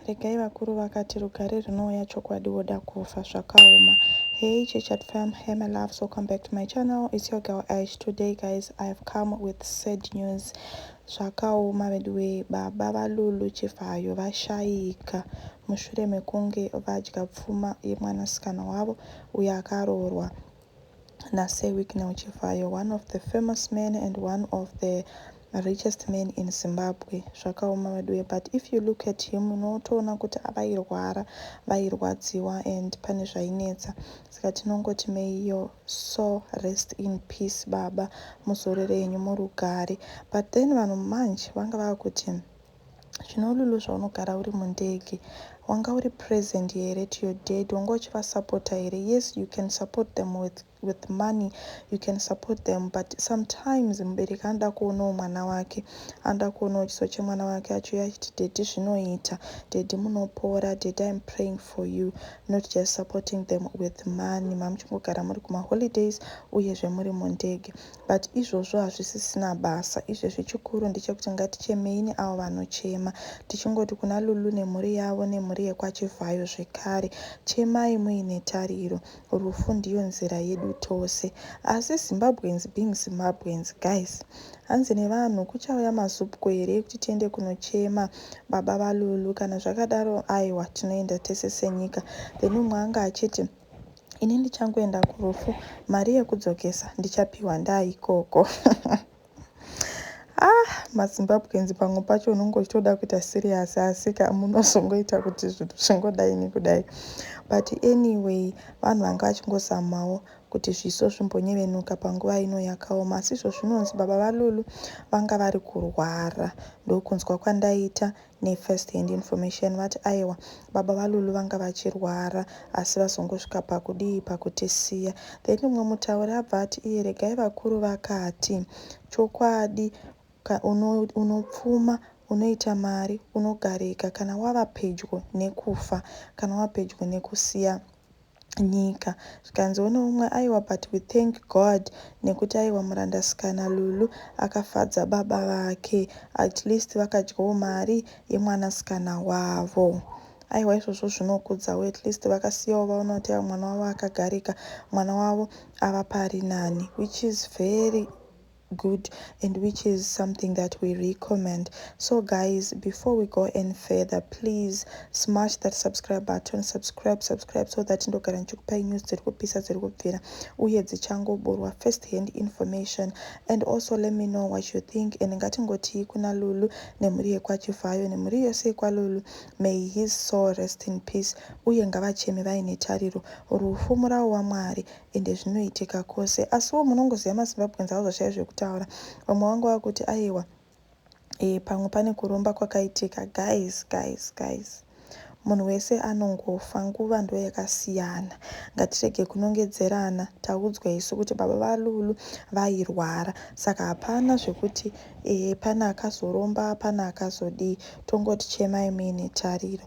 Regai vakuru vakati rugare rinouya chokwadi woda kufa zvakaoma hey chechat fam hey my loves welcome back to my channel it's your girl ash today guys i have come with sad news zvakaoma veduwee baba valulu chivhayo vashaika mushure mekunge vadya pfuma yemwanasikana wavo uyo akaroorwa naSir Wicknell Chivhayo, one of the famous men and one of the richest men in Zimbabwe. Zvakaoma veduwe but if you look at him unotoona kuti vairwara, vairwadziwa and pane zvainetsa saka tinongoti may your soul rest in peace baba muzorore henyu murugare. But then vanhu manje vanga vava kuti Zvino Lulu zvaunogara uri mundege wanga uri present here to your dad wanga uchivasupporter here yes you can support them with, with money you can support them but sometimes mubereki anoda kuonawo mwana wake anoda kuonawo chiso chemwana wake achiuya achiti daddy zvinoita daddy munopora daddy im praying for you not just supporting them with money mamuchingogara muri kumaholidays uyezve muri mundege But izvozvo hazvisisina basa izvezvi chikuru ndechekuti ngatichemei neavo vanochema tichingoti kuna Lulu nemhuri yavo nemhuri yekwa Chivhayo zvekare chemai muine tariro rufu ndiyo nzira yedu tose asi Zimbabweans being Zimbabweans guys hanzi nevanhu kuchauya mazupko here ekuti tiende kunochema baba vaLulu kana zvakadaro aiwa tinoenda tese senyika then umwe anga achiti Ini ndichangoenda kurufu mari yekudzokesa ndichapiwa ndaa ikoko ah mazimbabweans pamwe pacho unenge uchitoda kuita serious asika munozongoita kuti zvinhu zvingodai nekudai but anyway vanhu vanga vachingozamawo kuti zviso zvimbonyevenuka panguva ino yakaoma asi izvo zvinonzi baba valulu vanga vari kurwara ndokunzwa kwandaita Nefirst hand information vati aewa baba vaLulu vanga vachirwara asi vazongosvika pakudii pakutisiya. Then umwe mutauri abva ati iye regai vakuru vakati chokwadi ka uno unopfuma unoita mari unogarika kana wava pedyo nekufa kana wava pedyo nekusiya nyika zvikanzi one umwe aiwa but we thank God nekuti aiwa muranda sikana Lulu akafadza baba vake at least vakadyawo mari yemwana sikana wavo aiwa izvozvo zvinokudzawo at least vakasiyawo vaona kuti aiwa mwana wavo akagarika mwana wavo ava pari nani which is very good and which is something that we recommend so guys before we go any further please smash that subscribe button subscribe subscribe so that ndogara ndichikupai news dziri kupisa dziri kubvira uye dzichangoburwa first hand information and also let me know what you think and ngatingotii kuna lulu nemhuri yekwachivhayo nemhuri yose yekwalulu may his soul rest in peace uye ngavacheme vaine tariro rufu murawo wamwari ende zvinoitika kose asiwo munongoziva mazimbabweans hauzoshaya zvekutaura vamwe vanga vakuti aiwa ee pamwe pane kuromba kwakaitika guys guys guys munhu wese anongofa nguva ndo yakasiyana ngatirege kunongedzerana taudzwa isu kuti baba valulu vairwara saka hapana zvekuti ee pane akazoromba pane akazodii tongoti chemai muine tariro